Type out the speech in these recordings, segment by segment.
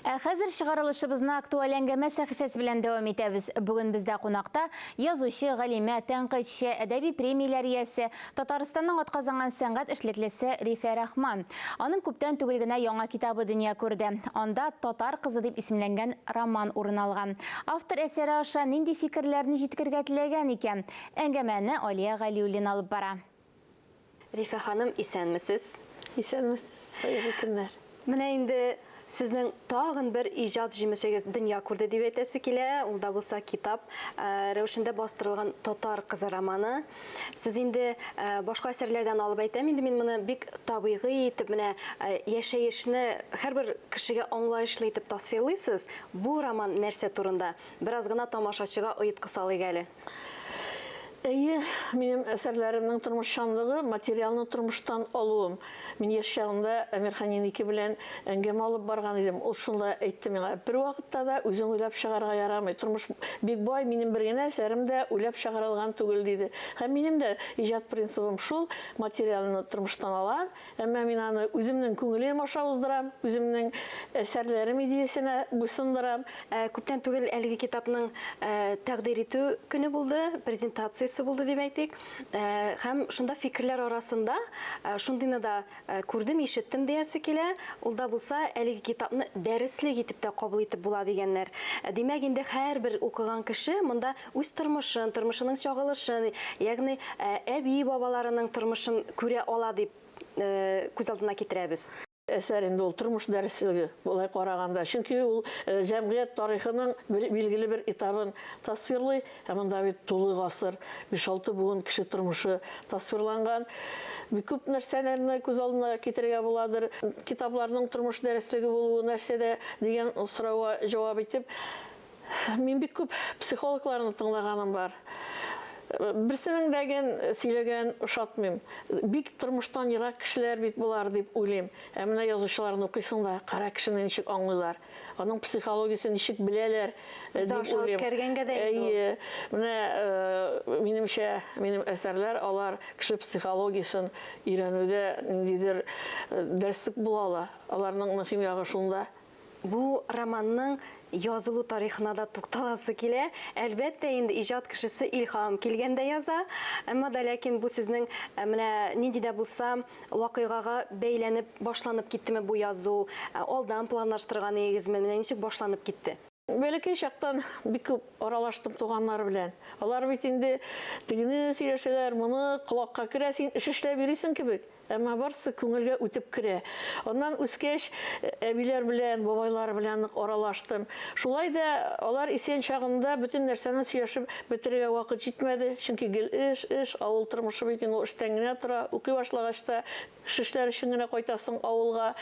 Ә хәзер чыгарылышыбызны актуаль әңгәмә сәхифәсе белән дәвам итәбез. Бүген бездә кунакта язучы, галимә, тәнкыйтьче, әдәби премияләр иясе, Татарстанның атказанган сәнгать эшлеклесе Рифә Рахман. Аның күптән түгел генә яңа китабы дөнья күрде. Анда Татар кызы дип исемләнгән роман урын алган. Автор әсәре аша нинди фикерләрне җиткергә теләгән икән? Әңгәмәне Алия Галиуллина алып бара. Рифә ханым, исәнмесез! Исәнмесез, хәерле көннәр! Менә инде сезнең тагын бер иҗат җимешегез дөнья күрде дип әйтәсе килә, ул да булса китап рәвешендә бастырылган Татар кызы романы. Сез инде башка әсәрләрдән алып әйтәм, инде мин моны бик табигый итеп менә яшәешне һәрбер кешегә аңлаешлы итеп тасвирлыйсыз. Бу роман нәрсә турында? Бераз гына тамашачыга оеткы салыйк әле. Әйе, минем әсәрләремнең тормышчанлыгы, материалны тормыштан алуым. Мин яшь чагымда Әмирханин ике белән әңгәмә алып барган идем. Ул шунда әйтте миңа, Бервакытта да үзең уйлап чыгарырга ярамый. Тормыш бик бай, минем бер генә әсәрем дә уйлап чыгарылган түгел, диде. Һәм минем дә иҗат принцибым шул, материалны тормыштан алам, Әмма мин аны үземнең күңелем аша уздырам, үземнең әсәрләрем идеясенә буйсындырам. Ә, күптән түгел әлеге китапның ә, тәкъдир итү көне булды, презентациясе булды дип әйтик. Ә, һәм шунда фикерләр арасында ә, шундыйны да ә, күрдем, ишеттем диясе килә. Ул да булса, әлеге китапны дәреслек итеп тә кабул итеп була дигәннәр. Ә, димәк, инде һәрбер укыган кеше монда үз тормышын, тормышының чагылышын, ягъни әби-бабаларының тормышын күрә ала дип күз алдына китерәбез. Әсәр инде ул тормыш дәреслеге, болай караганда, чөнки ул җәмгыять тарихының билгеле бер этабын тасвирлый, ә монда бит тулы гасыр, биш-алты буын кеше тормышы тасвирланган. Бик күп нәрсәләрне күз алдына китерергә буладыр. Китапларның тормыш дәреслеге булуы нәрсәдә дигән сорауга җавап итеп, Мин бик күп психологларны тыңлаганым бар. Берсенең дә ген сөйләгән ошатмыйм. Бик тормыштан ерак кешеләр бит болар дип уйлыйм. Ә менә язучыларны укыйсың да, кара кешене ничек аңлыйлар, аның психологиясен ничек беләләр э, дип уйлыйм. Үткәргәнгә дә Әйе. Менә э, минемчә, минем әсәрләр алар кеше психологиясен өйрәнүдә ниндидер э, дәреслек була ала. Аларның мөһим ягы шунда. Бу романның язылу тарихына да тукталасы килә. Әлбәттә инде, иҗат кешесе илһам килгәндә яза. Әмма да ләкин бу сезнең э, менә нинди дә булса вакыйгага бәйләнеп башланып киттеме бу язу? Э, алдан планлаштырган идегезме? Менә ничек башланып китте? Бәләкәй чактан бик күп аралаштым туганнар белән. Алар бит инде тегене сөйләшәләр, моны колакка керә, син эш эшләп йөрисең кебек. Әмма барсы күңелгә үтеп керә. Аннан үскәч, әбиләр белән, бабайлар белән нык аралаштым. Шулай да алар исән чагында бөтен нәрсәне сөйләшеп бетерергә вакыт җитмәде, чөнки гел эш, эш, авыл тормышы бит инде ул эштән генә тора. Укый башлагач та Шешләр өчен генә кайтасың авылга.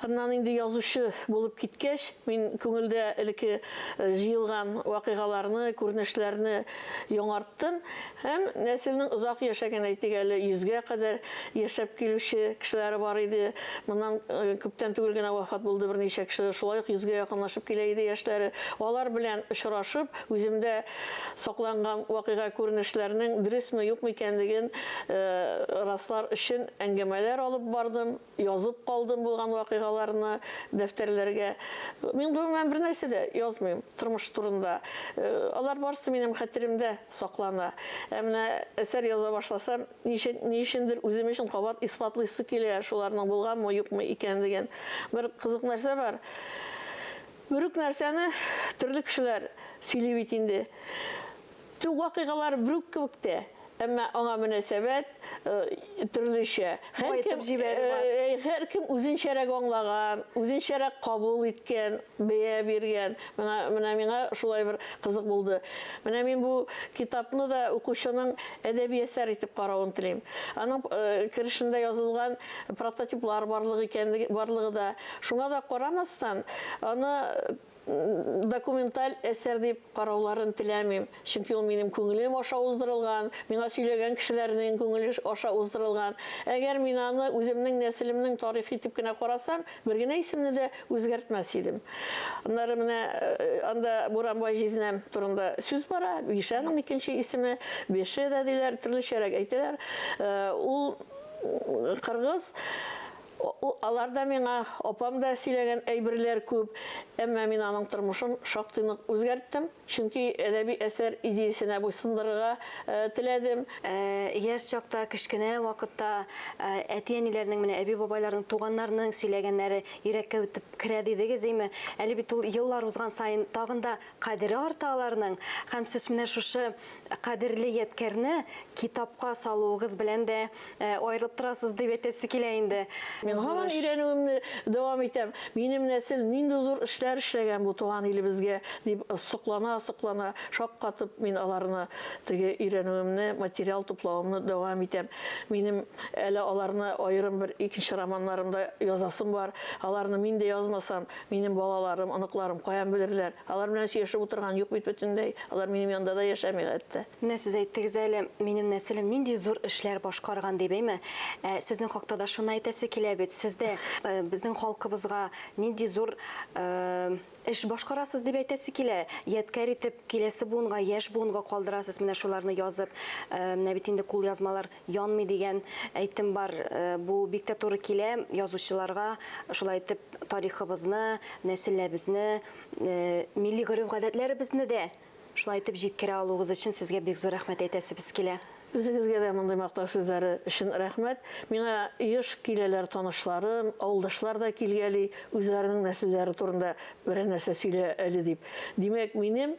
Аннан инде язучы булып киткәч, мин күңелдә элекке җыелган вакыйгаларны, күренешләрне яңарттым һәм нәселнең озак яшәгән, әйтик әле, йөзгә кадәр яшәп килүче кешеләре бар иде. Моннан күптән түгел генә вафат булды берничә кеше, шулай ук йөзгә якынлашып килә иде яшьләре. Алар белән очрашып, үземдә Сакланган вакыйга күренешләренең дөресме-юкмы икәнлеген раслар өчен әңгәмәләр алып бардым, язып калдым булган вакыйгаларны дәфтәрләргә. Мин гомумән бернәрсә дә язмыйм тормыш турында. Алар барысы минем хәтеремдә саклана. Ә менә әсәр яза башласам, ни өчендер үзем өчен кабат исбатлыйсы килә шуларның булганмы-юкмы икәнлеген. Бер кызык нәрсә бар. Берүк нәрсәне төрле кешеләр сөйли бит инде. Төп вакыйгалар берүк кебек тә, әмма аңа мөнәсәбәт төрлечә. Баетып җибәрү бар. Һәркем үзенчәрәк аңлаган, үзенчәрәк кабул иткән, бәя биргән. Менә миңа шулай бер кызык булды. Менә мин бу китапны да укучының әдәби әсәр итеп каравын телим. Аның керешендә язылган прототиплар барлык икәнлеге, барлыгы да. Шуңа да карамастан, аны документаль әсәр дип карауларын теләмим, чөнки ул минем күңелем аша уздырылган, миңа сөйләгән кешеләрнең күңеле аша уздырылган. Әгәр мин аны үземнең нәселемнең тарихы итеп кенә карасам, бер генә исемне дә үзгәртмәс идем. Аннары менә анда Буранбай җизнәм турында сүз бара, Бишәнең икенче исеме Беше дә диләр, төрлечәрәк әйтәләр. Ул кыргыз Аларда миңа апам да сөйләгән әйберләр күп, әмма мин аның тормышын шактый нык үзгәрттем, чөнки әдәби әсәр идеясенә буйсындырырга теләдем. Яшь чакта, кечкенә вакытта әти-әниләрнең, менә әби-бабайларның, туганнарның сөйләгәннәре йөрәккә үтеп керә дидегез, име? Әле бит ул еллар узган саен тагын да Кадере арта аларның һәм сез менә шушы кадерле ядкәрне китапка салуыгыз белән дә аерылып торасыз дип әйтәсе килә инде. Мин һаман өйрәнүемне дәвам итәм. Минем нәсел нинди зур эшләр эшләгән бу туган илебезгә, дип соклана-соклана, шаккатып мин аларны теге өйрәнүемне, материал туплавымны дәвам итәм. Минем әле аларны аерым бер икенче романнарымда язасым бар. Аларны мин дә язмасам, Минем балаларым, оныкларым каян белерләр? Алар белән сөйләшеп утырган юк бит бөтенләй. Алар минем янда да яшәми хәтта. Менә сез әйттегез әле, минем нәселем нинди зур эшләр башкарган дип, әйме? Ә сезнең хакта да шуны әйтәсе килә бит. Сез дә безнең халкыбызга нинди зур эш башкарасыз дип әйтәсе килә. Ядкарь итеп киләсе буынга, яшь буынга калдырасыз менә шуларны язып. Менә бит инде кулъязмалар Янмый дигән әйтем бар. Бу бик тә туры килә. Язучыларга шулай итеп тарихыбызны, нәселләбезне, милли гореф-гадәтләребезне дә шулай итеп җиткерә алуыгыз өчен сезгә бик зур рәхмәт әйтәсебез килә. Үзегезгә дә мондый мактау сүзләре өчен рәхмәт. Миңа еш киләләр танышларым, авылдашлар да килгәли, үзләренең нәселләре турында берәр нәрсә сөйлә әле дип. Димәк, минем